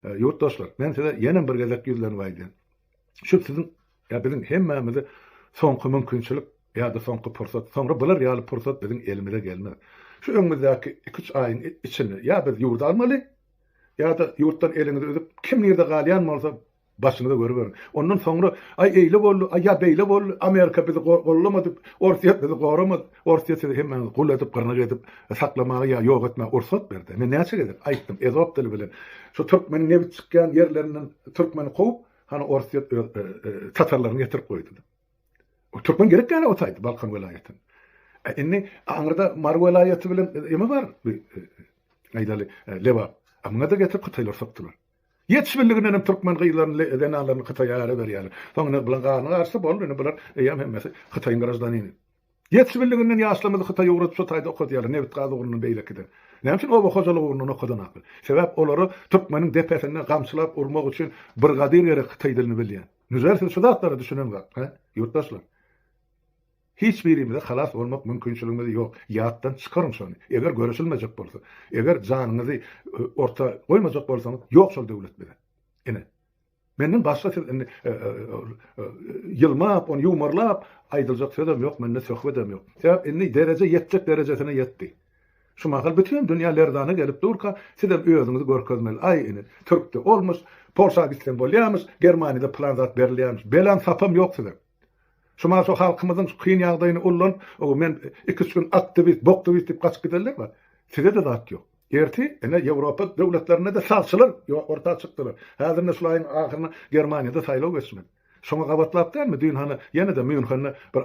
E, ýurtdaşlar, men size ýene bir gezek ýüzlenip aýdýan. Şu siziň ýa biziň hemmämize soňky mümkinçilik ýa-da soňky pursat. Soňra bular ýaly pursat biziň elimize gelmez. Şu öňümizdäki 2-3 aýyň içinde ýa biz ýurdy almaly, ýa-da ýurtdan eliňizi üzüp, kim nirde galýan bolsa, başyňyza görüberiň. Ondan soňra, aý eýle boldy, aý ýa beýle boldy, Amerika bizi gollamady, Orsýet bizi goramady. Orsiýa sizi hemmäňizi gul edip, gyrnak edip saklamaga ýa ýok etmäge ursat berdi. Men näçe gezek aýtdym, ezop dili bilen şu türkmeniň nebit çykýan ýerlerinden türkmeni kowup, hany orsiýa öz tatarlaryny getirip goýdy diýip. O türkmen gerek ýaly otaýdy Balkan welaýatyn. E, indi aňyrda Mary welaýaty bilen eme bar, e, aýdaly, e, Lebap. A muňa da getirip hytaýlar sokdular. Ýetişmeliginden hem türkmen gyzlaryny, zenanlaryny Hytaýa ara berýärler. Soň indi bulan garny garsa boldy, indi bular eýýäm hemmesi Hytaýyň graždanini. Ýetişibildiginden ýaşlarymyzy Hytaý ugrat şu taýda okadýarlar nebit-gaz ugrundan beýlekiden näme üçin oba hojalyk ugrundan okadanaklar sebäp olara türkmeniň depesinde gamçylap urmak üçin brigadir gerek Hytaý dilini bilýän Nüzer siz şu zatlara düşüneňzak hä ýurtdaşlar hiç birimize halas bolmak mümkinçiligimiz ýok ýatdan çykaryň şony eger göreşilmejek bolsa eger janyňyzy orta goýmajak bolsaňyz ýok şol döwlet bize ine Menden başga siz indi ýylmap, ony ýumarlap aýdyljak sözem ýok, mende söhbedem ýok. Sebäp indi dereje ýetjek derejesine ýetdi. Şu mahal bütin dünýä lerzana gelip durka, sizem özüňizi görkezmeli. Aý ine, türkde olmyş, Polşa gitseň bolýamyş, Germaniýada pylan zat berilýämiş. Belan sapam ýok siziň. Şu mana şu halkymyzyň şu kyn ýagdaýyny ullanyp, o men iki üç gün aktiwist, boktwist diýip gaçyp gidenler bar. Sizede zat ýok. Erti ene Ýewropa döwletlerinde-de sagçylar orta çykdylar. Häzir ine şul aýyň ahyryna Germaniýada saýlaw geçmeli. Şoňa gabatlap dälmi düýn hany ýene-de Mýunhende bir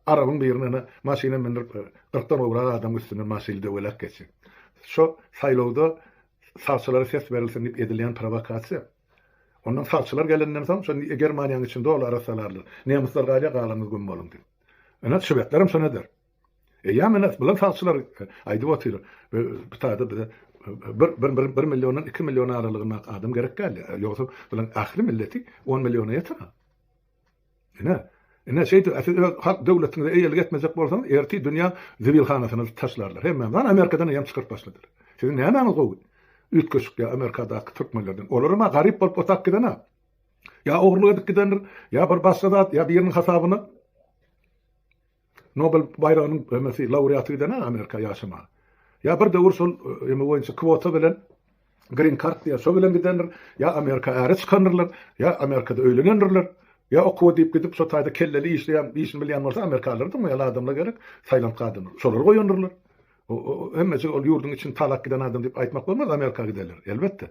arabyň birine ene maşyna mündirip gyrkdan gowrak adamyň üstünden maşyny döwelek geçen. Şo saýlawda sagçylara ses berilsin diýip edilýän prowokasiýa. Ondan sagçylar gelenden soň, şo Germaniýanyň içinde ol arassalarlar. Nemysler galýar, galaňyz güm boluň diýip. Ine, şwedlerem şon eder. Eýýäm ine, bilen sagçylar aýdyp otyr, bu taýda bize bir, bir milliondan iki million aralygynda adam gerek däl. Ýogsa, bilen ähli milleti on milliona ýeter-ä. Ine, ine, şeýdip-ä siz öz halk döwletiňize eýelik etmejek bolsaňyz, ertir dünýä zibilhanasyna taşlarlar hemmäňizi. Hany, Amerikadan eýýäm çykaryp başladylar. Siziň nämäňiz gowy? Üýtgeşik ýa Amerikadaky türkmenlerden. Olaram-a garyp bolup otap giden-ä. Ýa ogurlyk edip gidendir, ýa bir başga zat, ýa biriniň hasabyna. Nobel baýragynyň emesi laureaty gidene Amerika ýaşamaga. Ýa bir döwür şol eme boýunça kwota bilen Green card diýýär, şo bilen gidendir, ýa Amerika äre çykandyrlar, ýa Amerikada öýlenendirler, ýa okuwa diýip gidip şo taýda kelleli işleýän, işini bilýän bolsa Amerikalylar dymmaýarlar adamlar gerek, Taýland gadyny şolary goýandyrlar. Hemmejik ol ýurduň içini talap giden adam diýip aýtmak bolmaz Amerika gidenler, elbetde.